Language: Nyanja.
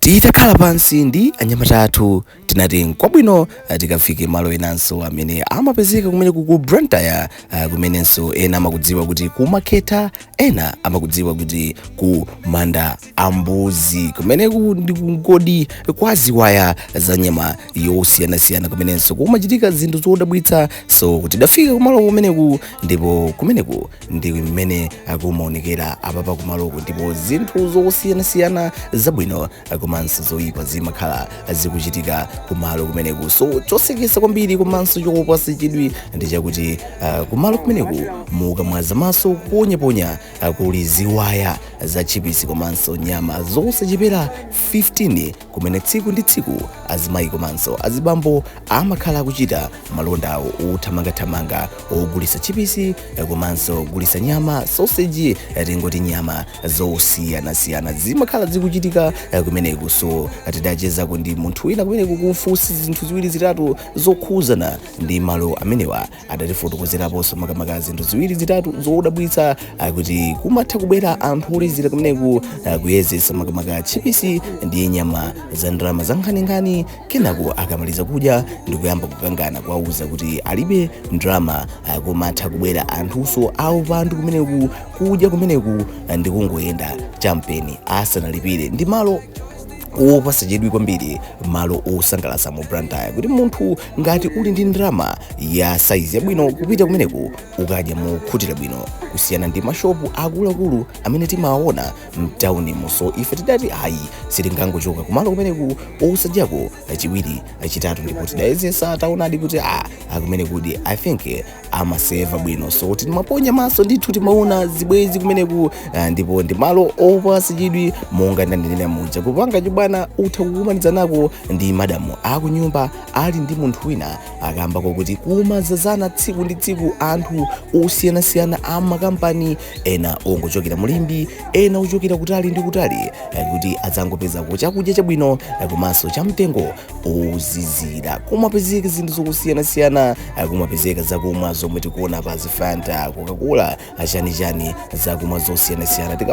Titakhala pansi ndi anyamata athu, tinati nkwabwino ah, tikafike malo enanso amene amapezeka kumeneku ku Blantyre ah, kumenenso ena amakudziwa kuti kumakhetha, ena amakudziwa kuti ku manda a mbuzi kumeneku ndi kungodi kwa ziwaya za nyama yosiyanasiyana kumenenso kumachitika zinthu zodabwitsa so tidafika kumalo kumeneku ndipo kumeneku ndi mmene akumaonekera apapa kumaloku ndipo zinthu zosiyanasiyana zabwino komanso zoyipa zimakhala zikuchitika kumalo kumeneku so chosekesa kwambiri komanso chopasa chidwi ndi chakuti uh, kumalo kumeneku mukamwaza maso kuponyaponya uh, kuli ziwaya za chipisi komanso nyama zosachepera 15 kumene tsiku ndi tsiku azimayi komanso azibambo amakhala akuchita malonda awo othamangathamanga ogulitsa tchipisi komanso kugulitsa nyama soseji tingoti nyama zosiyanasiyana zimakhala zikuchitika kumeneku so tidachezako ndi munthu wina kumeneku kumfunsa zinthu ziwiri zitatu zokhuzana ndi malo amenewa adatifotokozeraponso makamaka zinthu ziwiri zitatu zodabwitsa ah, kuti kumatha kubwera anthu olezera kumeneku ah, kuyezesa makamaka tchipisi ndi nyama za ndalama za nkhaninkhani kenako akamaliza kudya ndi kuyamba kukangana kuwauza kuti alibe ndalama ah, kumatha kubwera anthunso aupandu kumeneku kudya kumeneku ah, ndi kungoyenda chamtseri asanalipire ndi malo opasa chidwi kwambiri malo osangalatsa mu Blantyre kuti munthu ngati uli ndi ndalama ya saizi yabwino kupita kumeneku ukadya mokhutira bwino kusiyana ndi mashopu akuluakulu amene timawaona mtawunimu so ife tidati ayi sitingangochoka kumalo kumeneku osadyako chiwiri chitatu ndipo tidayezesa taonadi kuti a kumenekudi i think amaseva bwino so timaponya maso ndithu timaona zibwezi kumeneku uh, ndipo ndi malo opasa chidwi monga ndanenera muja kupanga chibwana utha kukumanizanako ndi madamu akunyumba ali ndi munthu wina kamba koti kumazazana tsiku ndi tsiku anthu osiyanasiyana a makampani ena ongochokera mu Limbe ena ochokera kutali ndi kutali eh, kuti adzangopezako chakudya chabwino eh, komanso cha mtengo ozizira kumapezeka zinthu zosiyanasiyana kumapezeka zakumwa zomwe tikuonapa zifanta Coca-Cola chanichani zakumwa zosiyanasiyana Tika-